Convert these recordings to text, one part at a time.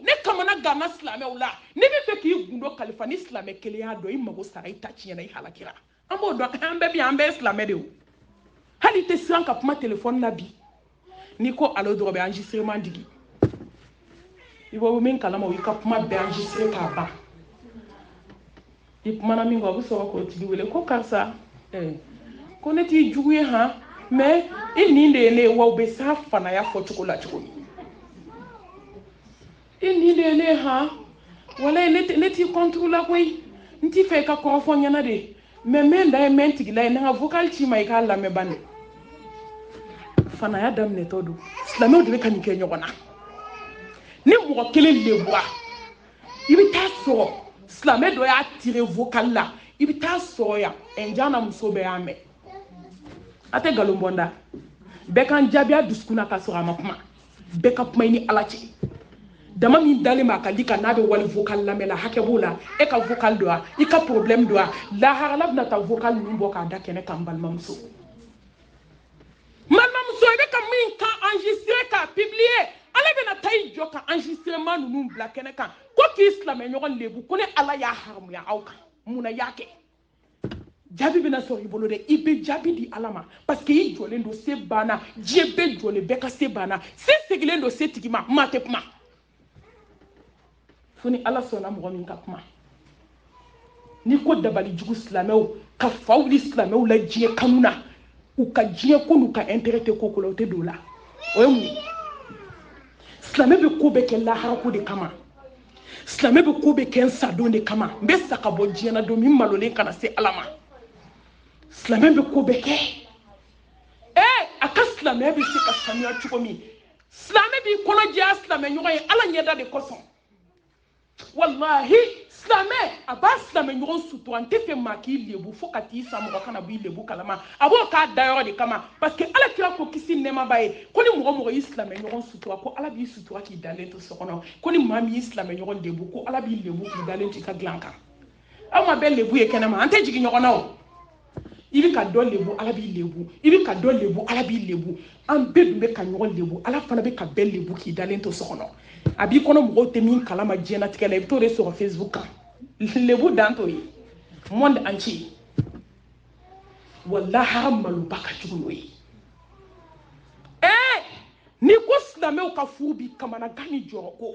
ne kamana ganna silamɛw la n'i bɛ fɛ k'i gundo kalifa ni silamɛ kelen y'a dɔn i mago sara i ta tiɲɛna i halakira an b'o dɔn an bɛɛ bi an bɛɛ ye silamɛ de ye hali i tɛ siran ka kuma telefɔni la bi n'i ko alo dɔrɔn bɛ enregistrement digi i bɛ min kalama o y'i ka kuma bɛɛ enregistré k'a ban i kumana min kan o bɛ sɔrɔ k'o tigi wele ko karisa eh, ko ne t'i jugu ye han mais i nin de ye ne ye wa u bɛ s'a fanaya fɔcogo la cogo min i nin de ye ne ye han walayi ne t'i contre la koyi n t'i fɛ i ka kɔrɔfɔ n ɲɛna de mais n bɛ n da ye n bɛ n tigila ye n ka vocal ci i ma i k'a lamɛn bani fanaya daminɛtɔ don silamɛw de bɛ ka nin kɛ ɲɔgɔn na ni mɔgɔ kelen lebura i bɛ taa sɔrɔ silamɛ dɔ y'a tire vocal la i bɛ taa sɔrɔ yan ɛnjan na muso bɛɛ y'a mɛn a tɛ nkalon bɔ n da bɛɛ kan jaabiya dusukun na ka sɔrɔ a ma kuma bɛɛ ka kuma i ni ala cɛ dama min dalen b'a ka di ka n'a bɛ wali vocal lamɛn la hakɛ b'o la e ka vocal don wa i ka problème don wa lahara ala bɛna taa vocal ninnu bɔ k'a da kɛnɛ kan n balimamuso balimamuso i bɛ ka min kan enregistré k'a publier ala bɛna taa i jɔ ka enregistrement ninnu bila kɛnɛ kan ko k'i silamɛɲɔgɔn lebu ko ne ala y'a haramuya aw kan mun na i y'a kɛ jaabi bɛna sɔrɔ i bolo dɛ i bɛ jaabi di ala ma parce que i jɔlen don se banna diɲɛ bɛɛ jɔlen bɛɛ ka se banna se segilen don se tigi ma maa tɛ kuma fo ni ala sɔnna mɔgɔ min ka kuma n'i ko dabali jugu silamɛw ka fa wuli silamɛw la diɲɛ kanu na u ka diɲɛ ko n'u ka intérêt tɛ ko la o tɛ don o la o ye mun ye silamɛ bɛ ko bɛɛ kɛ laharako de kama silamɛ bɛ ko bɛɛ kɛ n sadon de kama n bɛ sa ka bɔ diɲɛ na don min malolen kana se ala ma silamɛ bɛ ko bɛɛ kɛ ee a ka silamɛya bɛ se ka sanuya cogo min silamɛ b'i kɔnɔ jɛya silamɛ ɲɔgɔn ye ala ɲɛda de kosɔn walahi silamɛ a b'a silamɛ ɲɔgɔn sutura n t'a fɛ maa k'i lebu fo ka t'i sa mɔgɔ kana b'i lebu kalama a b'o k'a dayɔrɔ de kama parce que ala kira ko kisi nɛɛma b'a ye ko ni mɔgɔ o mɔgɔ y'i silamɛ ɲɔgɔn sutura ko ala b'i sutura k'i dalen to so kɔnɔ ko ni maa min y'i silamɛ ɲɔgɔn lebu ko ala b'i lebu k'i dalen to i ka dilan kan aw ma bɛɛ lebu ye kɛnɛma an tɛ jigin ɲɔgɔn na o i bɛ ka dɔ lebu ala b'i lebu i bɛ ka dɔ lebu ala b'i lebu an bɛɛ dun bɛ ka ɲɔgɔn lebu ala fana bɛ ka bɛɛ lebu k'i dalen to so kɔnɔ a b'i kɔnɔ mɔgɔw tɛ min kalama diɲɛnatigɛ la i bɛ t'o de sɔrɔ facebook kan lebu dan t'o ye monde entier wa lahara maloba ka jugu n'o ye ee n'i ko silamɛw ka furu bi kamanagan ni jɔrɔko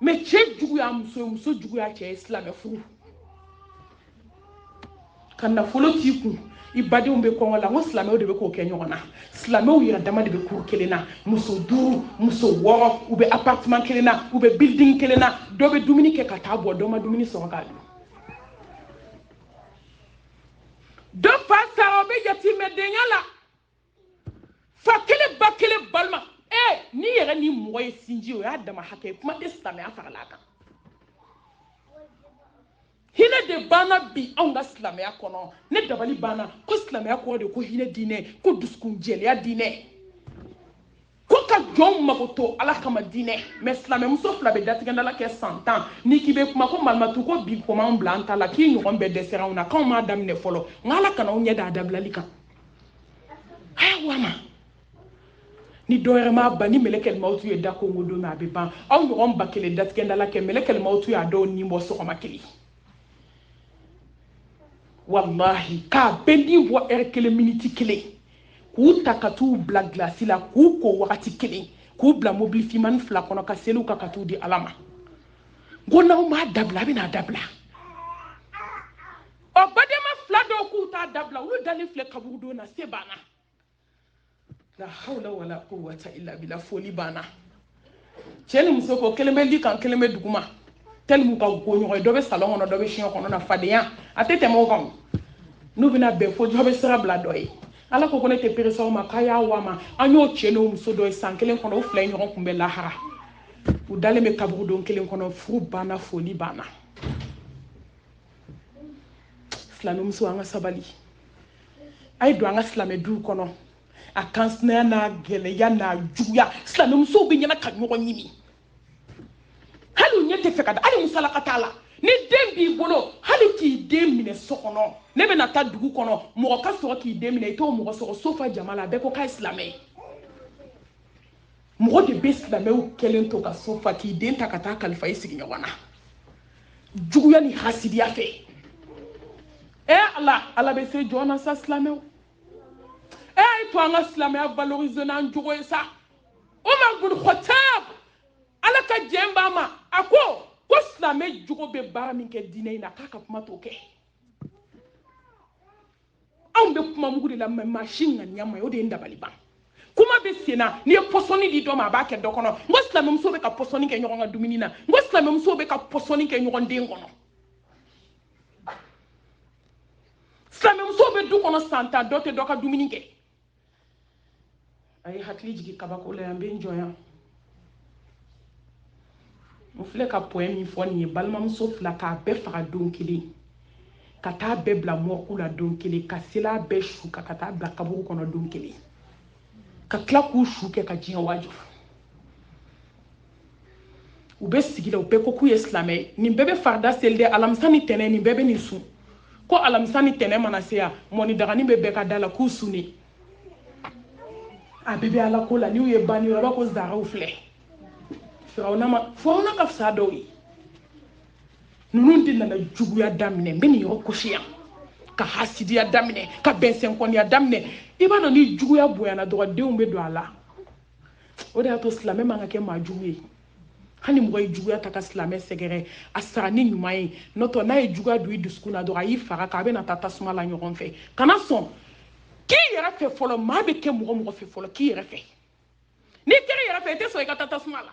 mɛ cɛ juguya muso ye muso juguya cɛ ye silamɛ furu ka nafolo t'i kun i badenw bɛ kɔngɔ la n ko silamɛw de bɛ k'o kɛ ɲɔgɔn na silamɛw yɛrɛ dama de bɛ kuru kelen na muso duuru muso wɔɔrɔ u bɛ apartiman kelen na u bɛ bilding kelen na dɔ bɛ dumuni kɛ ka t'a bɔn dɔ ma dumuni sɔrɔ k'a dun dɔ fa sara o bɛ yatimɛdenya la fa kelen ba kelen balima ee n'i yɛrɛ ni mɔgɔ ye sinji o y'a dama hakɛ ye kuma tɛ silamɛya farala a kan hinɛ de banna bi anw ka silamɛya kɔnɔ ne dabali banna ko silamɛya kɔrɔ de ko hinɛ diinɛ ko dusukun jɛlenya diinɛ ko ka jɔnw makoto ala kama diinɛ mɛ silamɛmuso fila bɛ datigɛndala kɛ san tan n'i k'i bɛ kuma ko malimatu ko bi koman bila an ta la k'i ɲɔgɔn bɛɛ dɛsɛra anw na k'anw m'a daminɛ fɔlɔ nka ala kana anw ɲɛ da a dabilali kan ayiwa ma ni dɔ wɛrɛ m'a ban ni mɛlɛkɛl mawutu ye da konkon don min a bɛ ban aw ɲɔgɔn ba kelen datigɛndala kɛ mɛlɛkɛl mawutu y'a dɔw ni bɔ sɔgɔma kelen walahi k'a bɛɛ ni bɔ ɛri kelen miniti kelen k'u ta ka t'u bila gilasi la k'u ko wagati kelen k'u bila mobili finmani fila kɔnɔ ka seli u kan ka t'u di ala ma n ko n'aw m'a dabila a bɛna dabila ɔ badenma fila dɔw k'u t'a dabila olu dalen filɛ kaburudo na se banna la hawla wala quwwata illa billah foli banna cɛ ni muso ko kelen bɛ li kan kelen bɛ duguma tellement u ka go ɲɔgɔn ye dɔ bɛ salɔn kɔnɔ dɔ bɛ siɲɛ kɔnɔ na fadenya a tɛ tɛmɛ o kan n'u bɛna bɛn fo dɔ bɛ sira bila dɔ ye ala ko ko ne tɛ perese aw ma k'a y'a wa ma an y'o cɛ n'o muso dɔ ye san kelen kɔnɔ u fila ye ɲɔgɔn kunbɛn lahara u dalen bɛ kaburudo kelen kɔnɔ furu banna foli banna silamɛmuso an ka sabali a ye don an ka silamɛ duw kɔnɔ a ka sinaya n'a gɛlɛya n'a juguya silamɛmusow bɛ ɲɛna ka ɲɔgɔn ɲimi hali u ɲɛ tɛ fɛ ka da hali musalaka t'a la ni den b'i bolo hali k'i den minɛ so kɔnɔ ne bɛna taa dugu kɔnɔ mɔgɔ ka sɔrɔ k'i den minɛ i t'o mɔgɔ sɔrɔ so fa jama la bɛɛ ko k'a ye silamɛ ye mɔgɔ de bɛ silamɛw kɛlen to ka so fa k'i den ta ka taa kalifa i sigiɲɔgɔn na juguya ni hasidiya fɛ ɛ ala ala bɛ se jɔn na sa silamɛw a y'a to an ka silamɛya valoriser n'an jogo ye sa umar bin khatab ala ka jɛn b'a ma a ko ko silamɛ jogo bɛ baara min kɛ diinɛ in na k'a ka kuma t'o kɛ anw bɛ kuma mugu de la mɛ maa si ŋaniya ma jɛ o de ye n dabali ban kuma bɛ sen na n'i ye pɔsɔni di dɔ ma a b'a kɛ dɔ kɔnɔ n ko silamɛmuso bɛ ka pɔsɔni kɛ ɲɔgɔn ka dumuni na n ko silamɛmuso bɛ ka pɔsɔni kɛ ɲɔgɔn den kɔnɔ silamɛmuso bɛ du kɔnɔ san tan dɔ tɛ dɔ ka dumuni kɛ a ye hakili jigin kabako la yan n bɛ n jɔ yan n filɛ ka pɔɛ min fɔ nin ye balimamuso fila k'a bɛɛ faga don kelen ka taa bɛɛ bila mɔrigi la don kelen ka seli a bɛɛ su kan ka taa bila kaburu kɔnɔ don kelen ka tila k'u su kɛ ka diɲɛ waaju u bɛ sigi la u bɛɛ ko k'u ye silamɛ ye nin bɛɛ bɛ farida seli dɛ alamisa ni tɛnɛ nin bɛɛ bɛ nin sun ko alamisa ni tɛnɛ mana se yan mɔni dagani bɛ bɛɛ ka da la k'u sun de a bɛɛ bɛ ala ko la n'u ye banni yɔrɔ ko zaraw filɛ firawuna ma firawuna ka fisa dɔw ye ninnu de nana juguya daminɛ n bɛ nin yɔrɔ kosi yan ka hasidiya daminɛ ka bɛnsɛnkɔniya daminɛ i b'a dɔn ni juguya bonyana dɔrɔn denw bɛ don a la o de y'a to silamɛ man ka kɛ maa jugu ye hali mɔgɔ ye juguya ta ka silamɛ sɛgɛrɛ a sara ni ɲuman ye n'o tɛ n'a ye juguya don i dusukun na dɔrɔn a y'i fara a kan a bɛna taa tasuma la ɲɔgɔn fɛ kana sɔn k'i yɛrɛ fɛ fɔlɔ maa bɛ kɛ mɔgɔ mɔgɔ fɛ fɔlɔ k'i yɛrɛ fɛ n'i kɛra i yɛrɛ fɛ i tɛ sɔn i ka taa tasuma la